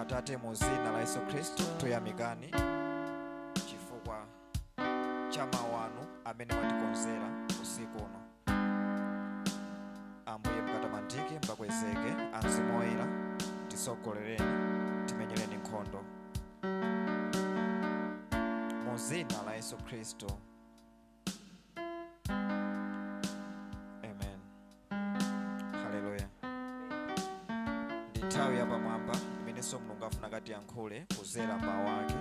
atate mu dzina la yesu khristu tuyamikani chifukwa cha mawu anu amene mwatikonzera usiku uno ambuye mukatamandike mukakwezeke a mzimu oyera tisogolereni timenyereni nkhondo mu dzina la yesu khristu amen haleluya ndi nthawi yapamwamba imenenso mulungu afuna akatiyankhule kuzera mmawu ake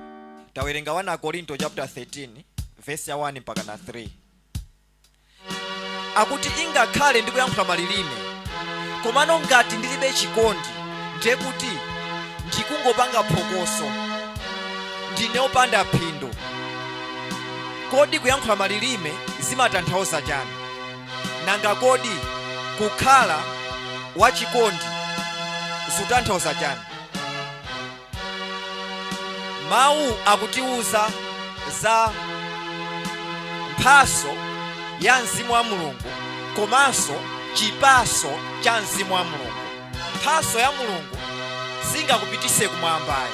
tawerenga 1 akorinto chapter 13 vesi ya 1 mpaka na 3 akuti ingakhale ndikuyankhula malilime komano ngati ndilibe chikondi ndiye kuti ndikungopanga phokoso ndine opanda phindu Kodi kuyankhula malilime zimatanthauza chani? Nanga kodi kukhala wachikondi zutanthauza chani? Mawu akutiuza za mphaso ya Mzimu wa Mulungu komanso chipaso cha Mzimu wa Mulungu. Mphaso ya Mulungu singakupitise kumwamba ayi.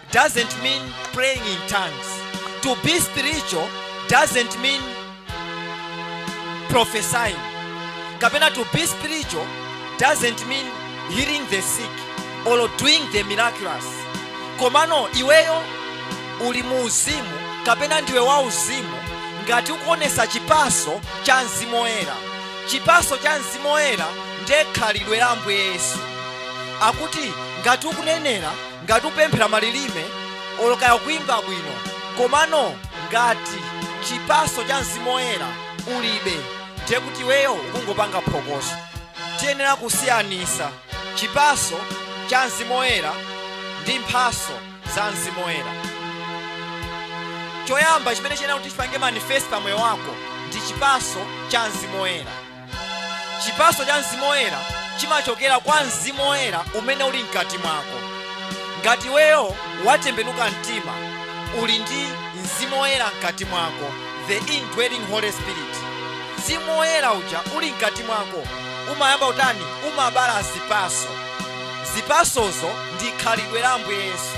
doesn't mean praying in tongues. To be spiritual doesn't mean prophesying. Kapena to be spiritual doesn't mean healing the sick or doing the miraculous. Komano iweyo uli mu uzimu kapena ndiwe wa uzimu ngati ukuonesa chipaso cha mzimu woyera chipaso cha mzimu woyera ndiye khalidwe la ambuye yesu akuti ngati ukunenera ngati upemphera malilime olo kaya kuimba bwino komano ngati chipaso cha mzimu oyera ulibe ndiye kuti iweyo ukungopanga phokoso tiyenera kusiyanisa chipaso cha mzimu oyera ndi mphaso za mzimu oyera choyamba chimene chiyenera kuti chipange manifest pa moyo wako ndi chipaso cha mzimu oyera Chipaso cha Mzimu Woyera chimachokera kwa Mzimu Woyera umene uli mkati mwako. Ngati iweyo watembenuka mtima, uli ndi Mzimu Woyera mkati mwako, the indwelling Holy Spirit. Mzimu Woyera uja uli mkati mwako umayamba utani? Umabala zipaso. Zipasozo ndi khalidwe la Ambuye Yesu.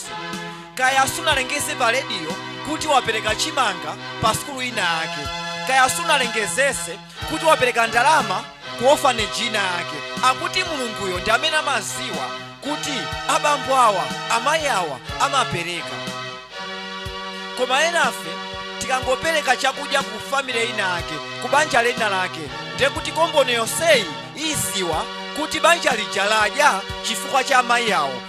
zonse kaya sunalengeze pa rediyo kuti wapereka chimanga pa sukulu ina yake kaya sunalengezetse kuti wapereka ndalama ku ofaneji ina yake akuti mulunguyo ndi amene amaziwa kuti abambo awa amayi awa amapereka koma enafe tikangopereka chakudya ku family ina yake ku banja lina lake ndiye kuti komboni yonseyi iziwa kuti banja lija ladya chifukwa cha amayi awo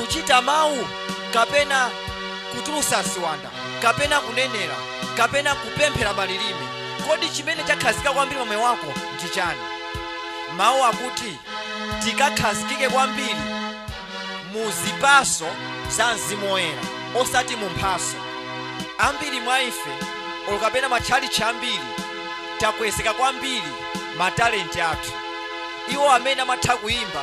kuchita mawu kapena kutulutsa ziwanda kapena kunenera kapena kupemphera malilime kodi chimene chakhazikika kwambiri pa moyo wako ndi chani mawu akuti tikakhazikike kwambiri mu zipatso za mzimu woyera osati mu mphatso ambiri mwa ife olo kapena matchalitchi ambiri takwezeka kwambiri matalenti athu iwo amene amatha kuyimba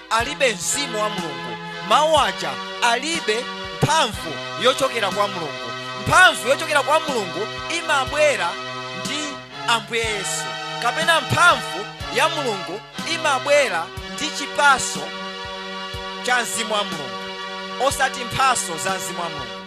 alibe mzimu wa mulungu mawu aja alibe mphamvu yochokera kwa mulungu mphamvu yochokera kwa mulungu imabwera ndi ambuye yesu kapena mphamvu ya mulungu imabwera ndi chipatso cha mzimu wa mulungu osati mphatso za mzimu wa mulungu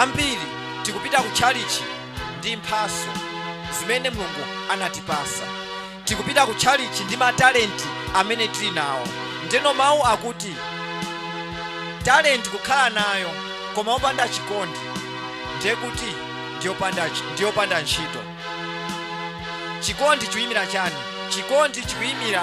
ambiri tikupita ku tchalichi ndi mphatso zimene mulungu anatipatsa tikupita ku tchalichi ndi matalenti amene tili nawo ndeno mawu akuti talenti kukhala nayo koma opanda chikondi ndiye kuti ndiyopanda ntchito chikondi chikuyimira chani chikondi chikuyimira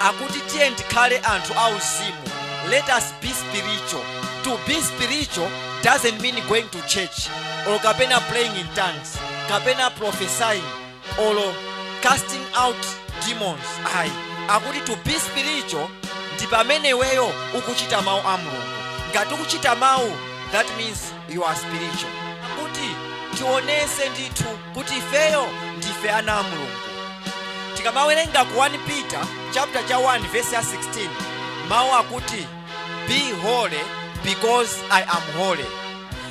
akuti tiyeni tikhale anthu auzimu let us be spiritual to be spiritual doesn't mean going to church or kapena praying in tongues kapena prophesying or casting out demons ayi akuti to be spiritual ndi pamene iweyo ukuchita mawu a mulungu ngati ukuchita mawu that means you are spiritual akuti tionetse ndithu kuti ifeyo ndife ana a mulungu tikamawerenga ku 1 peter chapter 1 verse 16 mawu akuti be holy because i am holy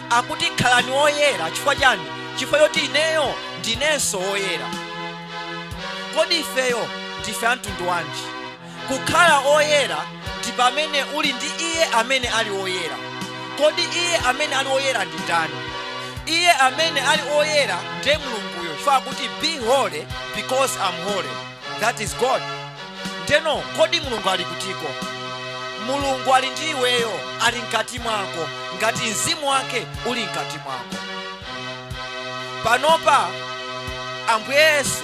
akuti khalani woyera chifukwa chani chifukwa choti ineyo ndinenso woyera kodi ifeyo ndife amtundu wanji Kukhala oyera ndi pamene uli ndi Iye amene ali oyera. Kodi Iye amene ali oyera ndi ndani? Iye amene ali oyera ndiye Mulunguyo chifukwa akuti be holy because I'm holy. That is God. Ndeno kodi Mulungu ali kutiko? Mulungu ali ndi iweyo, ali mkati mwako, ngati mzimu wake uli mkati mwako. Panopa Ambuye Yesu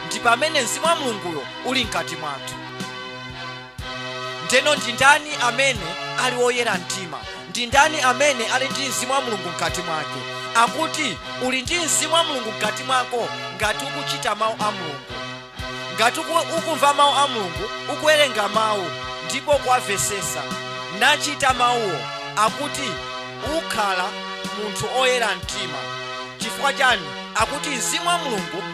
ndi pamene Mzimu wa Mulunguyo uli mkati mwathu. Ndeno ndi ndani amene ali woyera mtima? Ndi ndani amene ali ndi Mzimu wa Mulungu mkati mwake? Akuti uli ndi Mzimu wa Mulungu mkati mwako ngati ukuchita mawu a Mulungu, ngati uku- ukumva mawu a Mulungu, ukuwerenga mawu ndipo kuwamvesesa nachita mawuwo, akuti ukhala munthu oyera mtima. Chifukwa chani? Akuti Mzimu wa Mulungu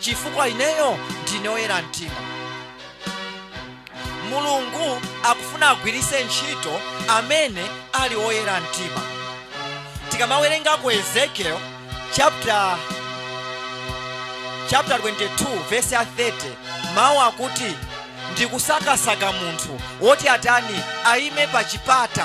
chifukwa ineyo ndine oyera mtima mulungu akufuna agwiritse ntchito amene ali oyera mtima tikamawerenga ku ezekiel chapter 22 verse 30 mawu akuti ndikusakasaka munthu woti atani ayime pa chipata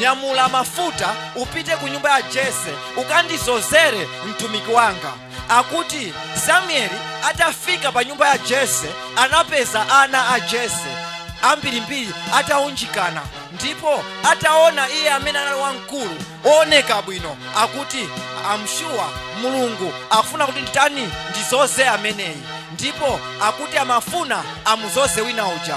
Nyamula mafuta upite ku nyumba ya Jese ukandizozere mtumiki wanga. Akuti Samueli atafika pa nyumba ya Jese anapeza ana a Jese ambirimbiri ataunjikana ndipo ataona iye amene anali wamkulu ooneka bwino akuti am sure mulungu akufuna kuti nditani ndizoze ameneyi ndipo akuti amafuna amuzoze wina uja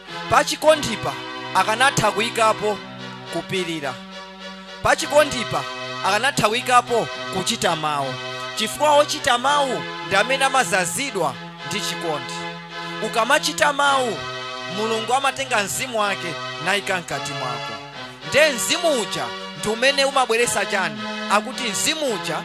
Pachikondipa akanatha kuikapo kupirira. Pachikondipa akanatha kuikapo kuchita mawu, chifukwa ochita mawu ndi amene amazazidwa ndi chikondi. Ukamachita mawu, Mulungu amatenga mzimu wake naika mkati mwako. Nde mzimu uja ndi umene umabweretsa chani? Akuti mzimu uja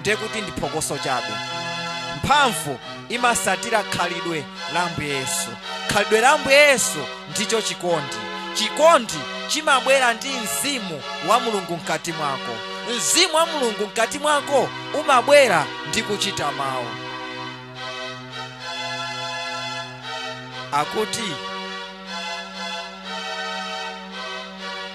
ndiye kuti ndi phokoso chabe mphamvu imasatira khalidwe la ambuye yesu khalidwe la ambuye yesu ndicho chikondi chikondi chimabwera ndi mzimu wa mulungu mkati mwako mzimu wa mulungu mkati mwako umabwera ndi kuchita mawu akuti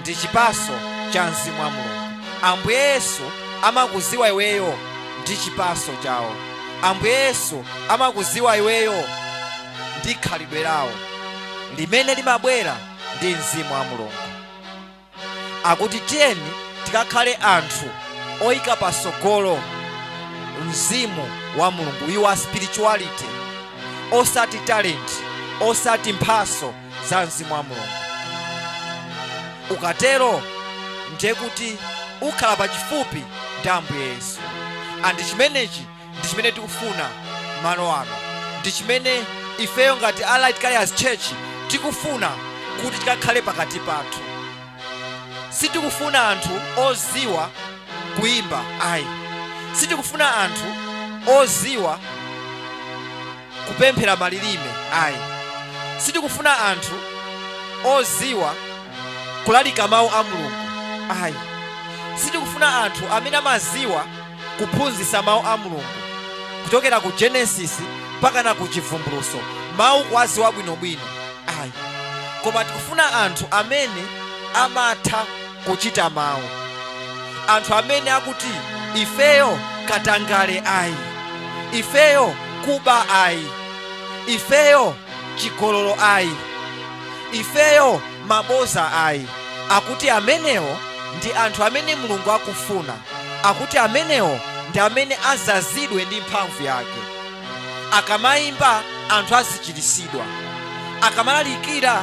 ndi chipaso cha mzimu wa mulungu ambuye yesu amakuziwa iweyo ndi chipaso chawo ambuye yesu amakuziwa iweyo ndi khalidwe lawo limene limabwera ndi mzimu wa mulungu akuti tiyeni tikakhale anthu oyika pasogolo mzimu wa mulungu your spirituality osati talent osati mphaso za mzimu wa mulungu ukatero ndiye kuti ukhala pachifupi ndi ambuye yesu andi chimenechi ndi chimene tikufuna malo ano ndi chimene ifeyo ngati light carriers church tikufuna kuti chikakhale pakati pathu sitikufuna anthu oziwa kuimba ayi sitikufuna anthu oziwa kupemphera malilime ayi sitikufuna anthu oziwa kulalika mawu a mulungu ayi sitikufuna anthu amene amaziwa kuphunzisa mawu a mulungu kuchokera ku genesis mpaka na ku chivumbuluso mawu kuwaziwa bwinobwino ayi koma tikufuna anthu amene amatha kuchita mawu anthu amene akuti ifeyo katangale ayi ifeyo kuba ayi ifeyo chigololo ayi ifeyo maboza ayi akuti amenewo ndi anthu amene mulungu akufuna akuti amenewo ndi amene azazidwe ndi mphamvu yake akamayimba anthu azichirisidwa akamalalikira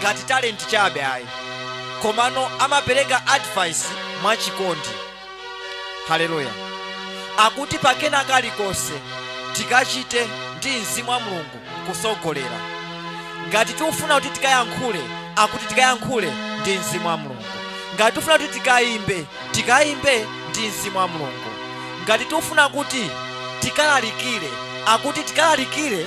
ngati talent chabe ayi komano amapereka advice mwachikondi haleluya akuti pakena kalikonse tikachite ndi mzimu wa mulungu kusogolera ngati tikufuna kuti tikayankhule akuti tikayankhule ndi mzimu wa mulungu ngati tikufuna kuti tikayimbe tikayimbe ndi mzimu wa mulungu ngati tikufuna kuti tikalalikire akuti tikalalikire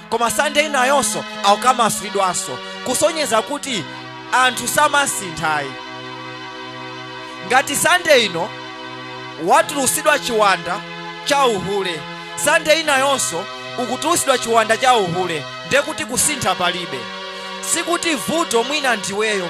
koma sande inayonso akukamasulidwanso kusonyeza kuti anthu samasinthayi ngati sande ino watulusidwa chiwanda cha uhule sande inayonso ukutulusidwa chiwanda cha uhule ndekuti kusintha palibe sikuti vuto mwina ndiweyo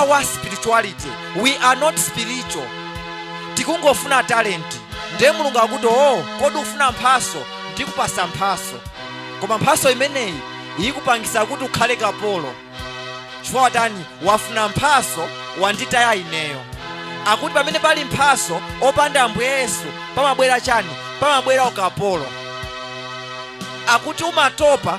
our spirituality we are not spiritual tikungofuna talenti ndiye mulungu akuti o kodi ufuna mphaso ndikupasa mphaso koma mphaso imeneyi ikupangisa kuti ukhale kapolo chifukwa watani wafuna mphaso wanditaya ineyo akuti pamene pali mphaso opanda ambuye yesu pamabwera chani pamabwera ukapolo akuti umatopa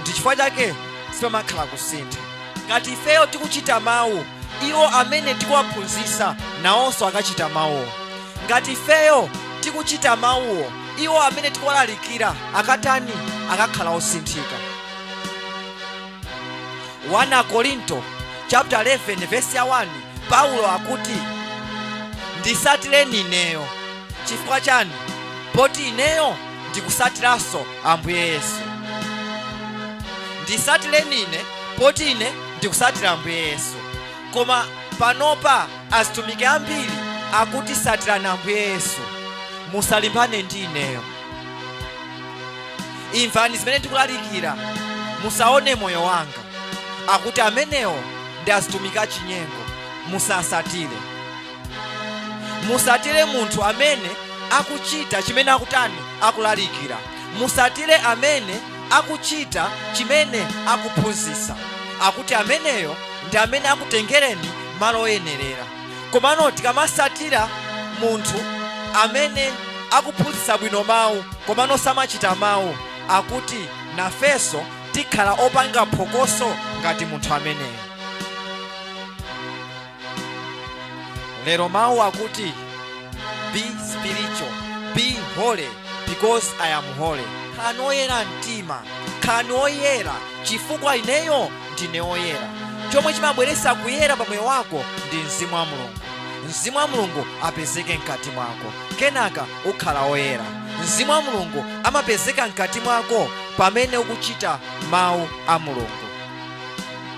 ndi chifukwa chake sipamakhala kusintha ngati ifeyo tikuchita mawu iwo amene tikuwaphunzisa nawonso akachita mawuwo ngati ifeyo tikuchita mawuwo iwo amene tikuwalalikira akatani akakhala osinthika 1 akorinto chapter 11 verse ya 1 paulo akuti ndisatireni ineyo chifukwa chani poti ineyo ndikusatiranso ambuye yesu ndisatireni ine poti ine ndikusatira ambuye yesu koma panopa azitumiki ambiri akuti satirani ambuye yesu musalimbane ndi ineyo imvani zimene ndikulalikira musaone moyo wanga akuti amenewo ndi azitumiki achinyengo musasatire musatire munthu amene akuchita chimene akutani akulalikira musatire amene akuchita chimene akuphunzitsa akuti ameneyo ndi amene akutengereni malo oyenerera komano tikamasatira munthu amene akuphunzitsa bwino mawu komano samachita mawu akuti nafenso tikhala opanga phokoso ngati munthu ameneyo lero mawu akuti be spiritual be holy because i am holy khalani oyera mtima khalani oyera chifukwa ineyo ndine oyera chomwe chimabweretsa kuyera pa moyo wako ndi mzimu wa mulungu mzimu wa mulungu apezeke mkati mwako kenaka ukhala oyera mzimu wa mulungu amapezeka mkati mwako pamene ukuchita mawu a mulungu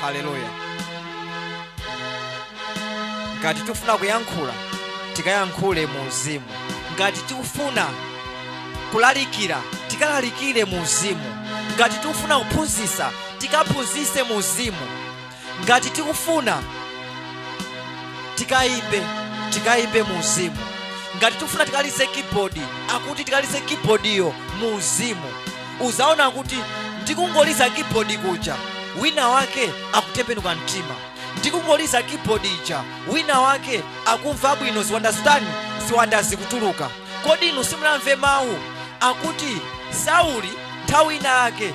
haleluya ngati tikufuna kuyankhula tikayankhule mu uzimu ngati tikufuna kulalikira tikalalikire mu uzimu ngati tikufuna kuphunzitsa tikaphunzitse mu uzimu ngati tikufuna tikayimbe tikayimbe mu uzimu ngati tikufuna tikalize keyboard akuti tikalize keyboardiyo mu uzimu uzaona kuti ndikungoliza keyboard kuja wina wake akutembenuka mtima ndikungoliza keyboard ija wina wake akumva bwino ziwanda zitani ziwanda zikutuluka kodi inu simunamve mawu akuti sauli nthawi ina yake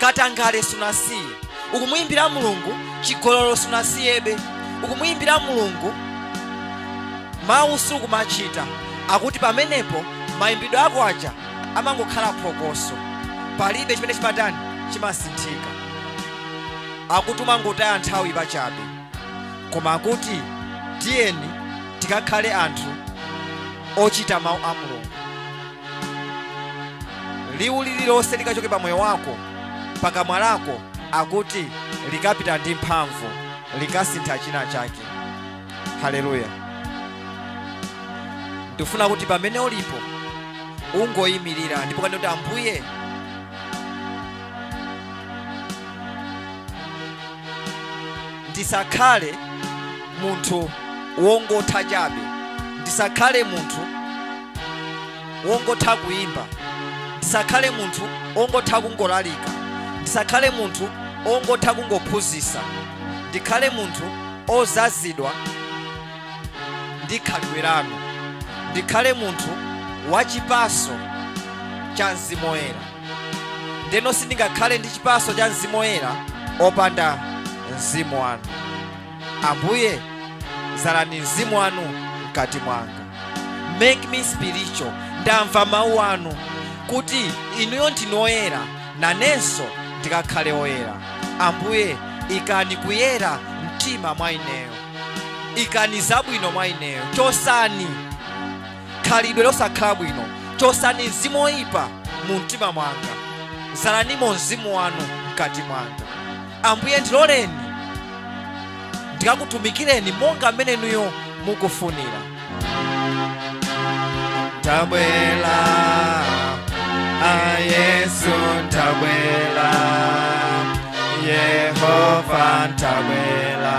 katangale sunasiye ukumuyimbira mulungu chigololo sunasiyebe ukumuyimbira mulungu mawu sukumachita akuti pamenepo mayimbidwe ako aja amangokhala phokoso palibe chimene chimatani chimasinthika akuti umangotaya nthawi pachabe koma akuti tiyeni tikakhale anthu ochita mawu a mulungu liwu lililonse likachoke pa moyo wako pakamwa lako akuti likapita ndi mphamvu likasintha china chake haleluya ndifuna kuti pamene ulipo ungoyimirira ndipo kanene kuti ambuye ndisakhale munthu wongotha chabe ndisakhale munthu wongotha kuimba ndisakhale munthu wongotha kungolalika ndisakhale munthu wongotha kungophunzisa ndikhale munthu ozazidwa ndi khalidwe lanu ndikhale munthu wachipaso cha mzimu woyera ndeno sindingakhale ndi chipaso cha mzimu woyera opanda mzimu wanu ambuye zalani mzimu wanu mkati mwanga make me spiritual ndamva mawu anu kuti inuyo ndinu oyera nanenso ndikakhale oyera ambuye ikani kuyera mumtima mwa ineyo ikani zabwino mwa ineyo chosani khalidwe losakhala bwino chosani mzimu woyipa mu mtima mwanga zalanimo mzimu wanu mkati mwanga ambuye ndiloleni ndikakutumikireni monga mmene inuyo mukufunira ndabwela a yesu ndabwela yehova ndabwela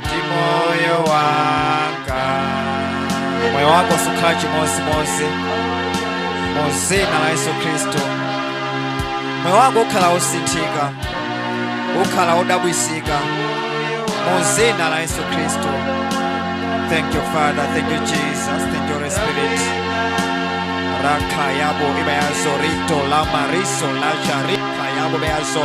ndi moyo wanga moyo wako sukhala chimozimozi mu zina la yesu khristu moyo wako ukhala wosinthika ukhala wodabwisika mu zina la yesu khristu thank you father thank you jesus thank you holy spirit rakayabo ibayazo rito la mariso la jarika yabo beyazo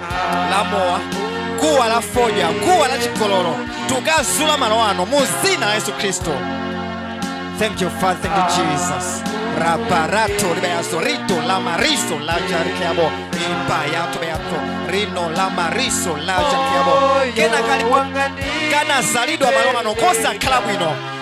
la mowa guwa la fodya guwa la chigololo tikukazula malo ano mu zina la yesu khristu thank you father thank you jesus raparato ribeyaso rito la mariso la jarikeabo ipayato beyato rino la mariso la jarikeabo kena kalipo kanazalidwa malo ano kosakhala bwino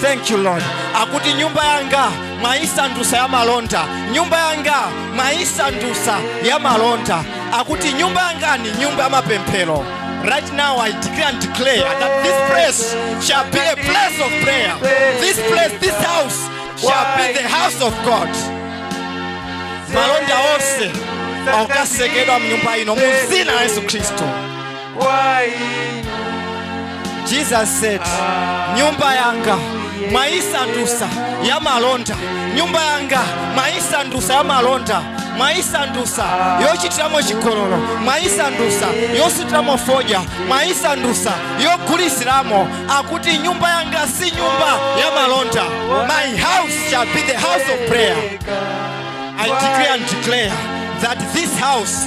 thank you lord akuti nyumba yanga mwayisandusa ya malonda nyumba yanga mwayisandusa ya malonda akuti nyumba yanga ni nyumba ya mapemphero right now i decree and declare that this place shall be a place of prayer this place this house shall be the house of god malonda onse akasekedwa mnyumba ino mu zina la yesu khristu kwa inu Jesus said, nyumba yanga mwaisandusa ya malonda nyumba yanga mwaisandusa ya malonda mwaisandusa yochitiramo chigololo mwaisandusa yosutiramo fodya mwaisandusa yogulisiramo akuti nyumba yanga si nyumba ya malonda my house shall be the house of prayer i decree and declare that this house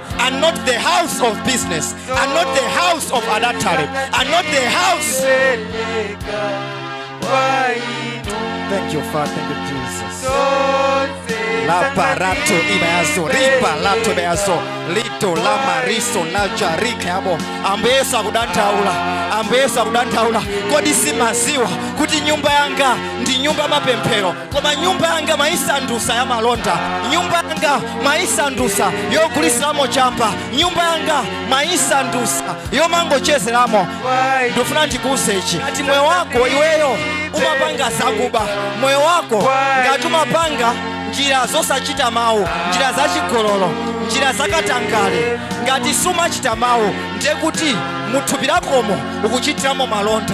and not the house of business, and not the house of adultery, and not the house. Peleka kwa inu Thank you, Father. Thank you, Jesus. zote La parato imeazo, ripa lato imeazo, lito la mariso na jarike abo. Ambuye akudandaula, ambuye akudandaula. Kodi simumaziwa kuti nyumba yanga ndi nyumba ya mapemphero. koma nyumba yanga mwaisandusa yamalonda nyumba yanga mwaisandusa yogulisilamo chamba nyumba yanga mwaisandusa yomangochezeramo ndifuna ndikuuze ichi ngati moyo wako iweyo umapanga zakuba moyo wako ngati umapanga njira zosachita mawu njira zachigololo njira zakatangale ngati sumachita mawu ndiye kuti muthupi lakomo ukuchitiramo malonda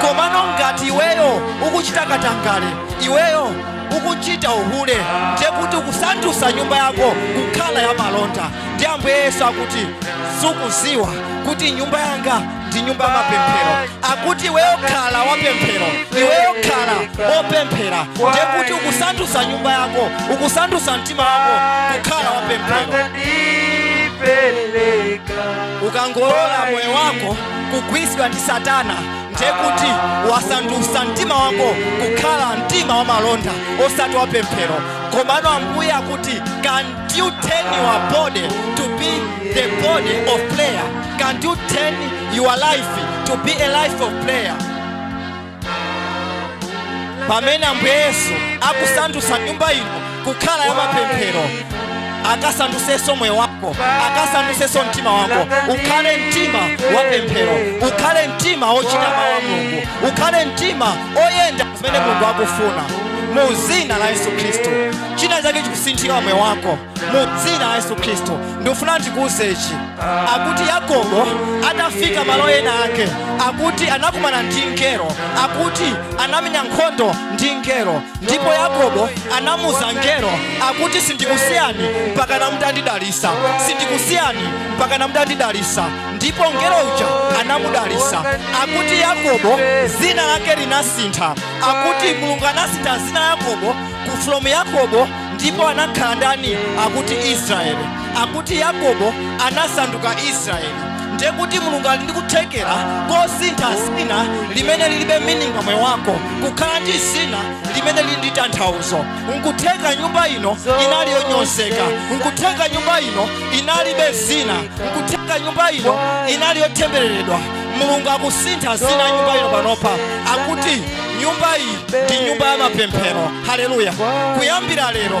komano ngati iweyo ukuchita katangale iweyo ukuchita uhule ndiye kuti ukusandutsa nyumba yako kukhala ya malonda ndi ambuye yesu akuti sukuziwa kuti nyumba yanga ndi nyumba ya mapemphero akuti iweyo khala wapemphero iweyo khala wopemphera ndiye kuti ukusandutsa nyumba yako ukusandutsa mtima wako kukhala wapemphero ukangolola moyo wako kugwitsidwa ndi satana ndiye kuti wasandutsa mtima wako kukhala mtima wa malonda osati wa pemphero komano ambuye akuti can you turn your body to be the body of prayer can you turn your life to be a life of prayer pamene ambuye yesu akusandutsa nyumba ino kukhala ya mapemphero akasandutsenso moyo wako akasandutsenso mtima wako ukhale mtima wa pemphero ukhale mtima wochita mawu a mulungu ukhale mtima oyenda zimene mulungu akufuna mu dzina la yesu khristu china chake chikusinthika moyo wako mu dzina la yesu khristu ndikufuna ndikuuze ichi akuti yakobo atafika malo ena ake akuti anakumana ndi mngelo akuti anamenya nkhondo ndi mngelo ndipo yakobo anamuuza mngelo akuti sindikusiyani mpaka mutandidalisa sindikusiyani mpaka mutandidalisa ndipo mngelo uja anamudalisa akuti yakobo zina lake linasintha akuti mulungu anasintha zina yakobo ku from yakobo ndipo anakhala ndani akuti israeli akuti yakobo anasanduka israeli ndiye kuti mulungu ali ndi kuthekera kosintha zina limene lilibe meaning pa moyo wako kukhala ndi zina limene lili ndi tanthauzo nkutheka nyumba ino inali yonyozeka nkutheka nyumba ino inalibe zina nkutheka nyumba ino inali yotembereredwa mulungu akusintha zina nyumba ino panopa akuti nyumba iyi ndi nyumba ya mapemphero haleluya kuyambira lero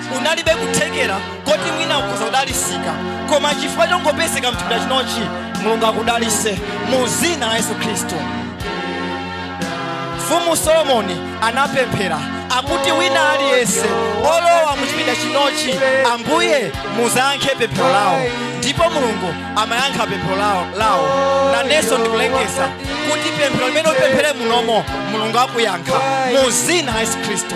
unalibe kuthekera koti mwina ukhoza kudalisika koma chifukwa chongopezeka mchipinda chinochi mulungu akudalise mu zina la yesu khristu mfumu solomoni anapemphera akuti wina aliyense olowa mu chipinda chinochi ambuye muzayankhe pemphero lawo ndipo mulungu amayankha pemphero lawo nanenso ndikulengeza kuti pemphero limene upemphere munomo mulungu akuyankha mu zina la yesu khristu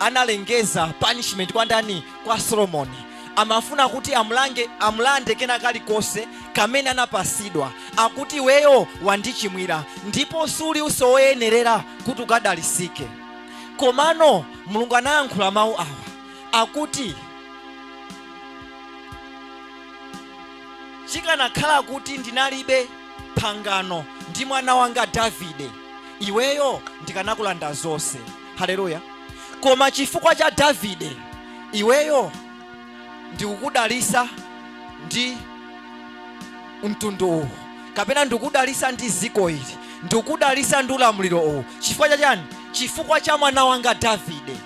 analengeza punishment kwa ndani kwa solomoni amafuna kuti amulande kena kalikonse kamene anapasidwa akuti iweyo wandichimwira ndipo suli uso woyenerera kuti ukadalisike komano mulungu anayankhula mawu awa akuti chikanakhala kuti ndinalibe pangano ndi mwana wanga davide iweyo ndikanakulanda zonse haleluya koma chifukwa cha davide iweyo ndikukudalisa ndi mtundu uwu kapena ndikudalisa ndi ziko ili ndikudalisa ndi ulamuliro uwu chifukwa cha chani chifukwa cha mwana wanga davide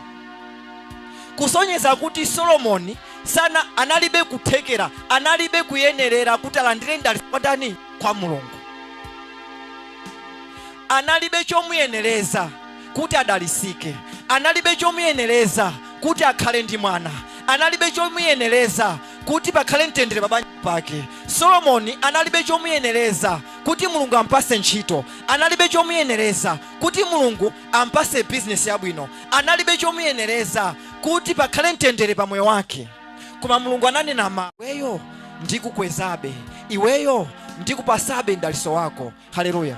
kusonyeza kuti solomoni sana analibe kuthekera analibe kuyenerera kuti alandire mdaliso kwa ndani kwa mulungu analibe chomuyenereza kuti adalisike, analibe chomuyenereza kuti akhale ndi mwana, analibe chomuyenereza kuti pakhale mtendere pabanja pake. Solomoni analibe chomuyenereza kuti Mulungu ampase ntchito, analibe chomuyenereza kuti Mulungu ampase bizinesi yabwino, analibe chomuyenereza kuti pakhale mtendere pa moyo wake. Koma Mulungu ananena ma iweyo ndikukwezabe iweyo ndikupasabe mdaliso wako. haleluya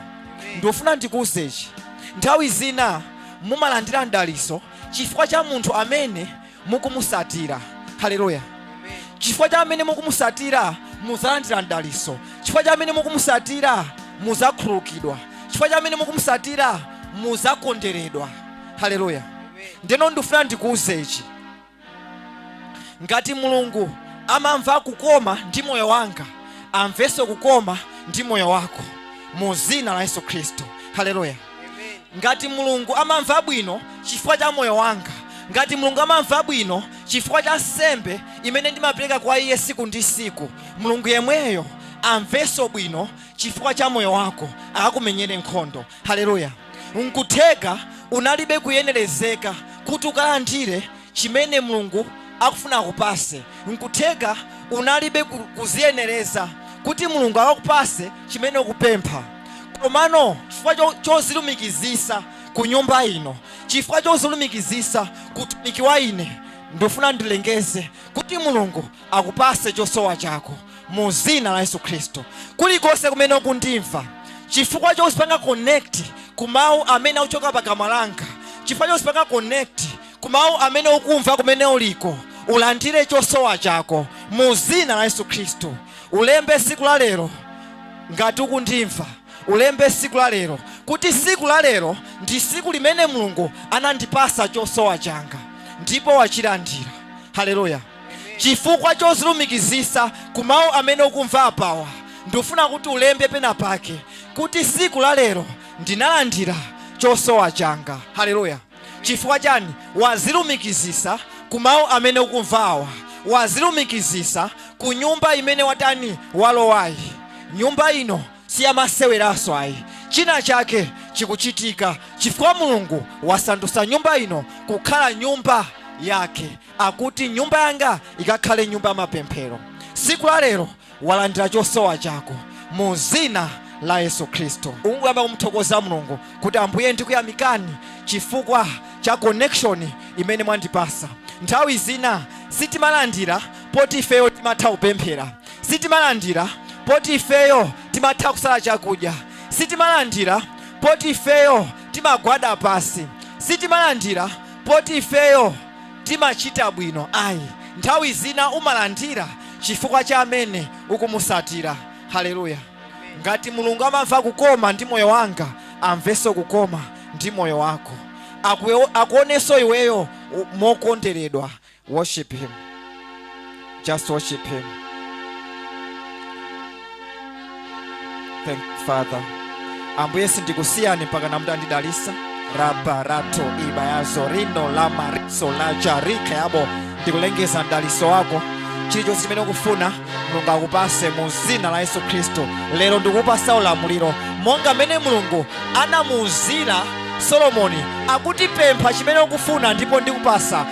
ndikufuna ndikuuze ichi nthawi zina mumalandira mdaliso chifukwa cha munthu amene mukumusatira haleluya chifukwa cha amene mukumusatira muzalandira mdaliso chifukwa cha amene mukumusatira muzakhululukidwa chifukwa cha amene mukumusatira muzakonderedwa haleluya ndeno ndifuna ndikuuze ichi ngati mulungu amamva kukoma ndi moyo wanga amvenso kukoma ndi moyo wako mu zina la yesu khristu haleluya ngati mulungu amamva bwino chifukwa cha moyo wanga ngati mulungu amamva bwino chifukwa cha nsembe imene ndimapereka kwa iye siku ndi siku mulungu yemweyo amvenso bwino chifukwa cha moyo wako akakumenyere nkhondo haleluya nkutheka unalibe kuyenerezeka kuti ukalandire chimene mulungu akufuna akupase nkutheka unalibe kuziyenereza kuti mulungu akakupase chimene ukupempha komano chifukwa chozilumikizisa ku nyumba ino chifukwa chozilumikizisa ku utumiki wa ine ndifuna ndilengeze kuti mulungu akupase chosowa chako mu zina la yesu khristu kulikonse kumene ukundimva chifukwa chozipanga connect ku mawu amene akuchoka pakamwa langa chifukwa chozipanga connect ku mawu amene ukumva kumene uliko ulandire chosowa chako mu zina la yesu khristu ulembe siku la lero ngati ukundimva ulembe siku la lero kuti siku la lero ndi siku limene mulungu anandipasa chosowa changa ndipo wachilandira haleluya chifukwa chozilumikizisa ku mawu amene ukumva apawa ndufuna kuti ulembe pena pake kuti siku la lero ndinalandira chosowa changa haleluya chifukwa chani wazilumikizisa ku mawu amene ukumva awa wazilumikizisa ku nyumba imene watani walowayi nyumba ino siyamaseweraso ayi china chake chikuchitika chifukwa mulungu wasandusa nyumba ino kukhala nyumba yake akuti nyumba yanga ikakhale nyumba ya mapemphero siku la lero walandira chosowa chako mu zina la yesu khristu ungoyamba kumuthokoza mulungu kuti ambuye ndikuyamikani chifukwa cha connection imene mwandipasa nthawi zina sitimalandira poti ifeyo timatha kupemphera sitimalandira poti ifeyo timatha kusala chakudya sitimalandira poti ifeyo timagwada pasi sitimalandira poti ifeyo timachita bwino ayi nthawi zina umalandira chifukwa cha amene ukumusatira haleluya ngati mulungu amamva kukoma ndi moyo wanga amveso kukoma ndi moyo wako Akuyo- akuoneso iweyo u- mokonderedwa worship him Just worship Him. Thank you, Father. Ambuye sindikusiyani mpakana mutandidalisa rabarato ibayazo rino lamariso lajarike yabo ndikulengeza mdaliso wako chilichonse chimene ukufuna mulungu akupase mu zina la yesu khristu lero ndikupasa ulamuliro monga mmene mulungu anamuuzira solomoni akuti pempha chimene ukufuna ndipo ndikupasa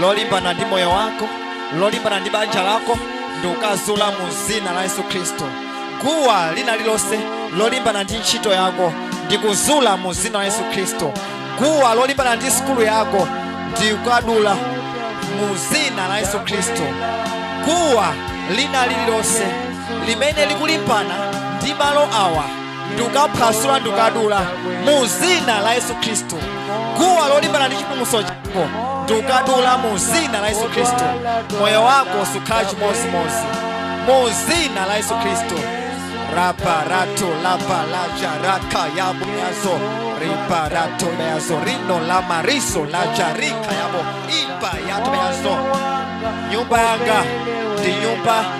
lolimbana ndi moyo wako lolimbana ndi banja lako ndikukazula mu zina la yesu khristu guwa lina lilonse lolimbana ndi ntchito yako ndikuzula mu zina la yesu khristu guwa lolimbana ndi sukulu yako ndikukadula mu zina la yesu khristu guwa lina lilonse limene likulimbana ndi malo awa ndukaphwasula ndukadula mu zina la yesu khristu guwa lolimbana ndi chipulumutso chako ndukadula mu zina la yesu khristu moyo wako sukhala chimodzimodzi mu zina la yesu khristu raparatu lapalaja raka yabo yazo riparatu meyazo rino la mariso laja rika yabo ipa yatu meyazo nyumba yanga ndi nyumba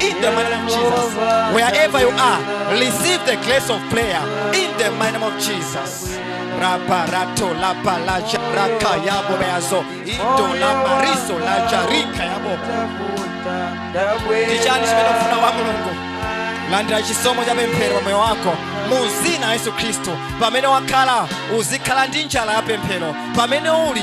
In the mighty name of Jesus. Wherever you are, receive the grace of prayer. In the mighty name of Jesus. Raparato la palaja raka yabo beazo. Indo la mariso la jarika yabo. Ndichani chimene ufuna kwa Mulungu. Landira chisomo cha pemphero pa moyo wako mu dzina la Yesu Khristu. Pamene wakhala uzikhala ndi njala ya pemphero. Pamene uli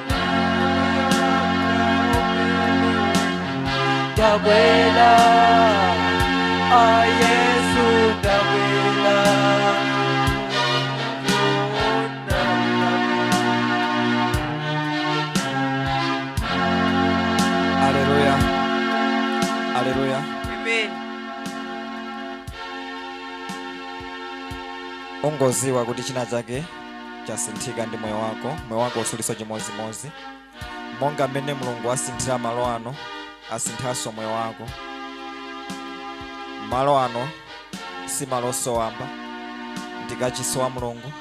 Tabela, a Yesu tabela. Haleluya. Haleluya. Amen. Ungoziwa kuti china chake chasinthika ndi moyo wako moyo wako usuliso chimodzimodzi monga mmene mulungu asinthira malo ano asinthanso moyo wako malo ano si malonso wamba ndi kachisi wa mulungu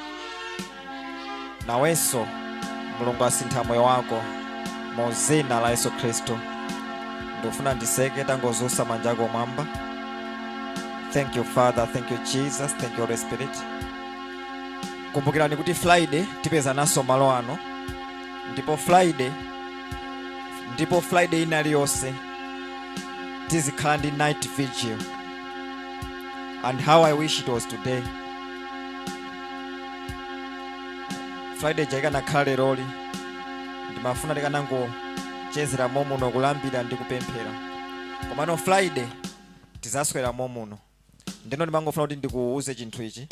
nawenso mulungu asintha moyo wako mu dzina la yesu khristu ndikufuna nditseke tangodzutsa manja ako m'mwamba thank you father thank you jesus thank you holy spirit kumbukirani kuti friday tipezananso malo ano ndipo friday ndipo friday ina iliyonse tizikhala ndi night vigil and how i wish it was today friday ija ikanakhala leroli ndimafuna tikanangochezera momuno kulambira ndi kupemphera komano friday tizaswera momuno ndeno ndimangofuna kuti ndikuuze chinthu ichi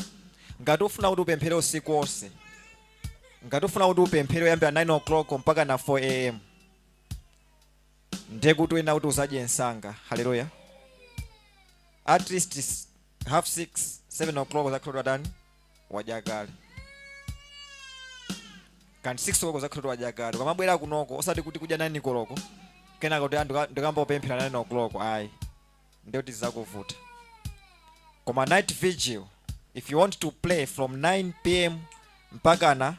ngati ufuna kuti upemphere usiku wonse ngati ufuna kuti upemphere kuyambira 9 o'clock mpakana 4 am ndiye kuti uyenera kuti uzadye msanga haleluya at least s- half 6 7 o'clock uzakhala watani wadya kale kanti 6 o'clock uzakhala wadya kale ukamabwera kunoko osati kuti kudya 9 koloko kenaka kuti ndikayamba kupemphera 9 o'clock ayi ndiye kuti zizakuvuta koma night vigil if you want to pray from 9 pm mpakana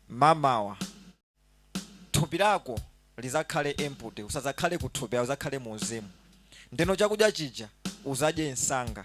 mamawa thupi lako lizakhale empty usazakhale kuthupi uzakhale mu mzimu ndeno chakudya chija uzadye msanga